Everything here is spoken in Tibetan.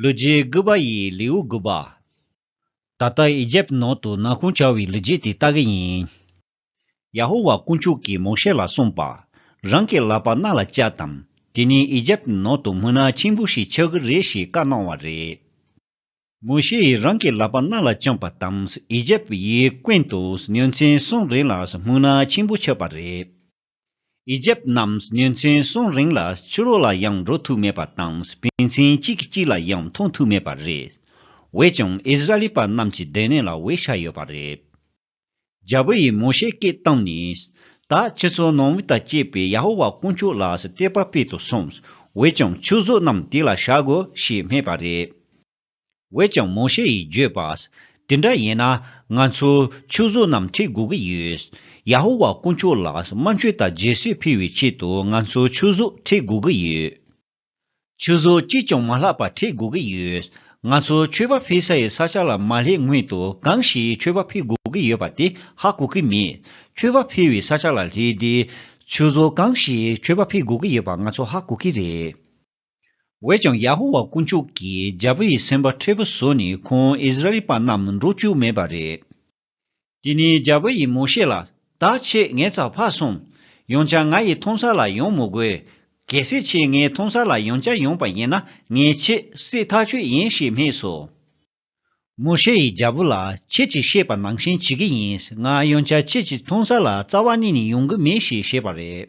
ལུས་རྗེས་རྒུད་པ་ཡི་ལེའུ་དགུ་པ། ད་ལྟ་ཨི་ཇེབ་ནང་དུ་ནག་ཁུང་བྱ་བའི་ལུས་རྗེས་དེ་ལྟ་གི་ཡིན། ཡ་ཧོ་ཝཱ་དཀོན་མཆོག་གིས་མོ་ཤེ་ལ་གསུངས་པ། རང་གི་ལག་པ་རྣ་ལ་བཅག་དང། དེ་ནས་ཨི་ཇེབ་ནང་དུ་སྨུག་ནག་ཆེན་པོ་ཞིག་ཆགས་ཀྱི་རེད་ཞེས་བཀའ་གནང་བ་རེད། མོ་ཤེ་ཡིས་རང་གི་ལག་པ་རྣ་ལ་བཅངས་པ་དང་ཨི་ཇེབ་ཡིས་བསྐོན་ཏོ་ཉིན་མཚན་གསུམ་རིང་ལ་སྨུག་ནག་ཆེན་པོ་ཆགས་པ་རེད། ཨི་ཇེབ་རྣམས་ཉིན་མཚན་གསུམ་རིང་ལ་ཕྱི་རོལ་ལ་ཡང་འགྲོ་ཐུབ་མེད་པ་དང་བུ་མཚན་གཅིག་གིས་གཅིག་ལ་ཡང་མཐོང་ཐུབ་མེད་པ་རེད། འོད་ཀྱང་ཨིས་ར་ལི་པ་རྣམས་ཀྱི་སྡོད་གནས་ལ་འོད་ཆགས་ཡོད་པ་རེད། རྒྱལ་པོ་ཡིས་མོ་ཤེ་སྐད་བཏང་ནས། ད་ཁྱེད་ཚོ་ནང་མི་དང་བཅས་པས་ཡ་ཧོ་ཝཱ་དཀོན་མཆོག་ལ་སྲིད་སྟེར་པར་སྤེལ་དུ་སོང། འོད་ཀྱང་ཆུ་གཟུགས་རྣམས་དེ་ལ་བྱ་དགོས་ཞེས་སྨྲས་པ་རེད། བས་ཀྱང་མོ་ཤེ་ཡིས་བརྗོད་པ། དེ་འདྲ་ཡིན་ན་ང་ཚོས་ཆུ་བཟོ་རྣམས་འཁྲིད་དགོས་ཀྱི་ཡོད། ཡ་ཧོ་ཝཱ་དཀོན་མཆོག་ལ་སྨན་བཅོས་དང་རྗེས་སུ་ཕུལ་བའི་ཆེད་དུ་ང་ཚོས་ཆུ་བཟོ་འཁྲིད་དགོས་ཀྱི་ཡོད། ཆུ་བཟོ་ཅིས་ཀྱང་མ་ལྷག་པ་འཁྲིད་དགོས་ཀྱི་ཡོད། ང་ཚོས་མཆོད་པ་ཕུལ་ས་ཡི་ས་ཆ་ལ་མ་སླེབས་སྔོན་དུ་གང་ཞིག་མཆོད་པ་ཕུལ་དགོས་ཀྱི་ཡོད་པ་དེ་ཧ་གོ་གི་མེད། མཆོད་པ་ཕུལ་བའི་ས་ཆ་ལ་སླེབས་དུས། ཆུ་བཟོ་གང་ཞིག་མཆོད་པ་ཕུལ་དགོས་ཀྱི་ཡོད་པ་ང་ཚོས་ཧ་གོ་གི་རེད། འོད་ཀྱང་ཡ་ཧོ་ཝཱ་དཀོན་མཆོག་གིས་རྒྱལ་པོ་ཡི་སེམས་པ་འཁྲལ་པོ་བཟོས་ནས་ཁོང་ཨིས་ར་ཨེལ་པ་རྣམས་འགྲོ་བཅུག་མེད་པ་རེད། དེ་ནས་རྒྱལ་པོ་ཡིས་མོ་ཤེ་ལ། ད་ཁྱེད་ངའི་ཚབ་འཕགས་སོང། ཡང་བསྐྱར་ང་ཡི་མཐོང་སར་ལ་ཡོང་མི་དགོས། གལ་སྲིད་ཁྱེད་ངའི་མཐོང་སར་ལ་ཡང་བསྐྱར་ཡོང་པ་ཡིན་ན་ངས་ཁྱེད་བསད་ཐག་ཆོད་ཡིན་ཞེས་སྨྲས་སོ། མོ་ཤེ་ཡིས་རྒྱལ་པོ་ལ་ཁྱེད་ཀྱིས་བཤད་པ་ནང་བཞིན་བྱེད་ཀྱི་ཡིན་ང་ཡང་བསྐྱར་ཁྱེད་ཀྱི་མཐོང་སར་ལ་རྩ་བ་ནས་ནས་ཡོང་གི་མེད་ཞེས་བཤད་པ་རེད།